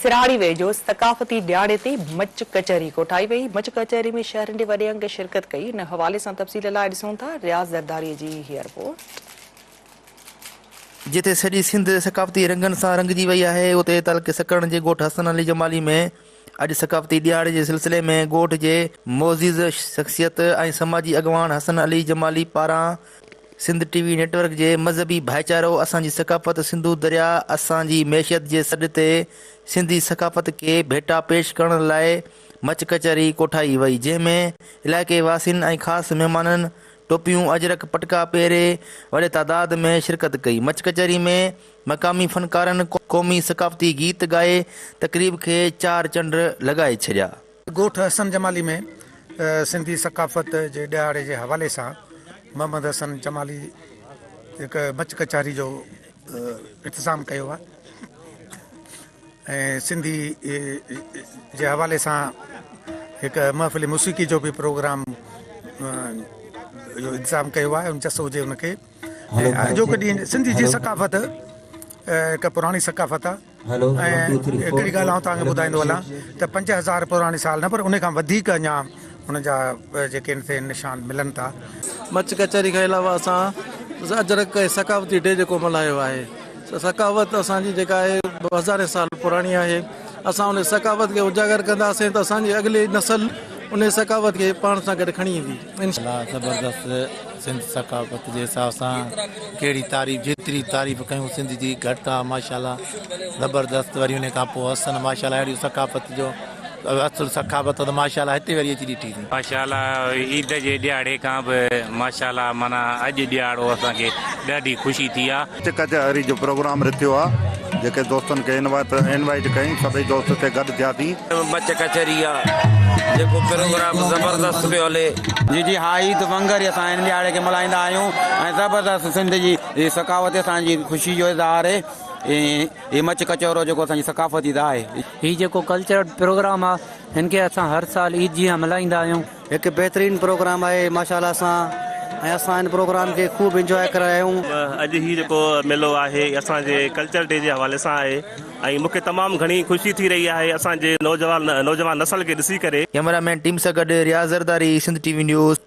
سرهاڙي ويجهو ثقافتي ڏهاڙي تي مچ ڪچهري ڪوٺائي وئي، مچ ڪچهري ۾ شهرين جي وڏي انگ شرڪت ڪئي، ان حوالي سان تفصيل لاء ڏسون ٿا رياض زرداري جي هي رپورٽ. جتي سڄي سنڌ ثقافتي رنگن سان رنگجي وئي آهي اتي تعلقي سڪرڻ جي ڳوٺ حسن علي جمالي ۾ اڄ ثقافتي ڏهاڙي جي سلسلي ۾ ڳوٺ جي معزز شخصيت ۽ سماجي اڳواڻ حسن علي جمالي پاران سنڌ ٽي وي نيٽورڪ جي مذهبي ڀائيچارو اسان جي ثقافت سنڌو درياء اسان جي معيشت جي سڏ تي سنڌي ثقافت کي ڀيٽا پيش ڪرڻ لاء مچ ڪچهري ڪوٺائي وئي جنهن ۾ علائقي واسين ۽ خاص مهمانن ٽوپيون اجرڪ پٽڪا پهري وڏي تعداد ۾ شرڪت ڪئي مچ ڪچهري ۾ مقامي فنڪارن قومي ثقافتي گيت ڳائي تقريب کي چار چنڊ لڳائي ڇڏيا. ڳوٺ حسن جمالي ۾ سنڌي ثقافت جي ڏهاڙي جي حوالي سان محمد حسن جمالي هڪ مچ ڪچهري جو انتظام ڪيو آهي ۽ سنڌي جي حوالي سان هڪ محفل موسيقي جو به پروگرام جو انتظام ڪيو آهي ان جس هجي ان کي اڄوڪي ڏينهن سنڌي جي ثقافت هڪ پراڻي ثقافت آهي ۽ هڪڙي ڳالهه آئون توهان کي ٻڌائيندو هلان ته پنج هزار پراڻي سال نه پر ان کان وڌيڪ اڃا ان جا جيڪي ان تي نشان ملن ٿا. مچ ڪچهري کان علاوه اسان اجرڪ ۽ ثقافتي ڊي جيڪو ملهايو آهي سا ثقافت اسان جي جيڪا آهي هزارين سال پراڻي آهي اسان ان ثقافت کي اجاگر ڪنداسين ته اسان جي اڳلي نسل ان ثقافت کي پاڻ سان گڏ کڻي ايندي. انشاءالله زبردست سنڌ ثقافت جي حساب سان ڪهڙي تعريف جيتري تعريف ڪيون سنڌ جي گهٽ آ ماشاءالله زبردست وري ان کان پوء حسن ماشاءالله اهڙي ثقافت جو اصل ثقافت ته ماشاءالله هتي وري اچي ڏٺي ٿي. ماشاءالله عيد جي ڏيهاڙي کان به ماشاءالله معنيٰ اڄ ڏيهاڙو اسان کي ڏاڍي خوشي ٿي آ. نچ ڪچهري جو پروگرام رٿيو آ جيڪي دوستن کي انوائيٽ ڪيائين سڀئي دوست اتي گڏ ٿيا سين. مچ ڪچهري آ جيڪو پروگرام زبردست پيو هلي. جي جي ها عيد ونگر ئي اسان هن ڏهاڙي کي ملهائيندا آهيون ۽ زبردست سنڌ جي هي ثقافتي اسان جي خوشي جو اظهار هي هي مچ ڪچهرو جيڪو اسان جي ثقافتي ته آهي. هي جيڪو ڪلچرل پروگرام آ هن کي اسان هر سال عيد جيان ملهائيندا آهيون. هڪ بهترين پروگرام آهي ماشاءالله سان ۽ اسان ان پروگرام کي خوب انجواء ڪري رهيا آهيون. اڄ هي جيڪو ميلو آهي اسان جي ڪلچر ڊي جي حوالي سان آهي ۽ مونکي تمام گهڻي خوشي ٿي رهي آهي اسان جي نوجوان نوجوان نسل کي ڏسي ڪري. ڪيمرا مين ٽيم سان گڏ Riaz Zardari Sindh T V news.